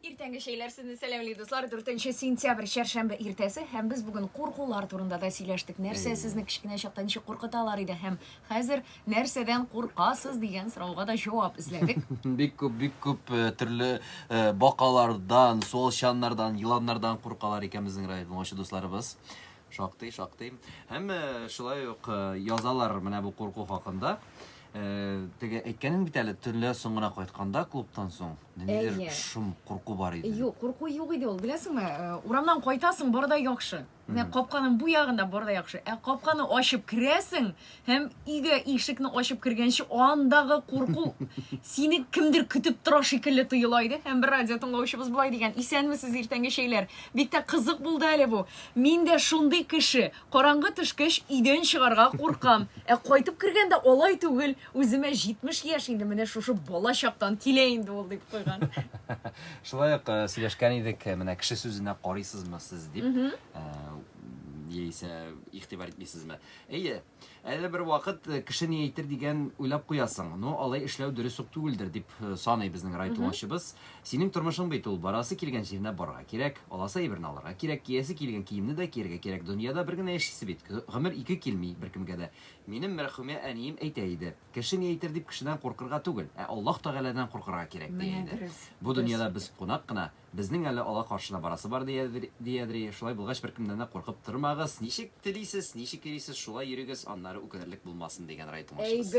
Иртәнге чәйләр сезне сәламли, дуслар. 4 сентябрь чәршәмбе иртәсе һәм без бүген куркулар турында да сөйләштек. Нәрсә сезне кечкенә чакта ничек куркыталар иде һәм хәзер нәрсәдән куркасыз дигән сорауга да җавап эзләдек. Бик күп, бик күп э, төрле э, бакалардан, суалчаннардан, еланнардан куркалар икән безнең районның очы дусларыбыз. Шактый, шактый. Һәм э, шулай ук э, язалар менә бу курку хакында. Э, теге әйткәнең бит әле төнлә соң гына кайтканда клубтан соң нидер Әйе. шом курку бар иде. Юк, курку юк иде ул. Беләсеңме, э, урамнан кайтасың, бар да яхшы. Менә капканың бу ягында бар да яхшы. Ә капканы ачып керәсең, Һәм өйгә ишекне ачып кергәнче андагы курку сине кемдер көтеп тора шикелле тоела иде. Һәм бер радио тыңлаучыбыз болай дигән, исәнмесез, иртәнге чәйләр. Бик тә кызык булды әле бу. Мин дә шундый кеше. Караңгы төшкәч өйдән чыгарга куркам. Ә кайтып кергәндә алай түгел. Үземә 70 яшь инде, менә шушы бала чактан килә инде ул, дип куйган. Шулай ук э, сөйләшкән идек, э, менә кеше сүзенә карыйсызмы сез дип. Э, яисә игътибар итмисезме? Әйе, әле бер вакыт э, кеше ни әйтер дигән уйлап куясың. Ну, алай эшләү дөрес үк түгелдер, дип э, саный безнең райтулашыбыз. Синең тормышың бит ул, барасы килгән җиренә барырга кирәк, аласы әйберне алырга кирәк, киясе килгән киемне дә киергә кирәк. Дөньяда бер генә яшисе бит, гомер ике килми беркемгә дә. Минем мәрхүмә әнием әйтә иде, кеше ни әйтер дип кешедән куркырга түгел, ә Аллаһ Тәгаләдән куркырга кирәк, дия иде. Бу дөньяда без кунак кына, Безнең әле алар каршына барасы бар, ди Әдри. Шулай булгач, беркемнән дә куркып тормагыз. Ничек телисез, ничек йөрисез, шулай йөрегез, аннары үкенерлек булмасын, дигән рай тыңлашыгыз.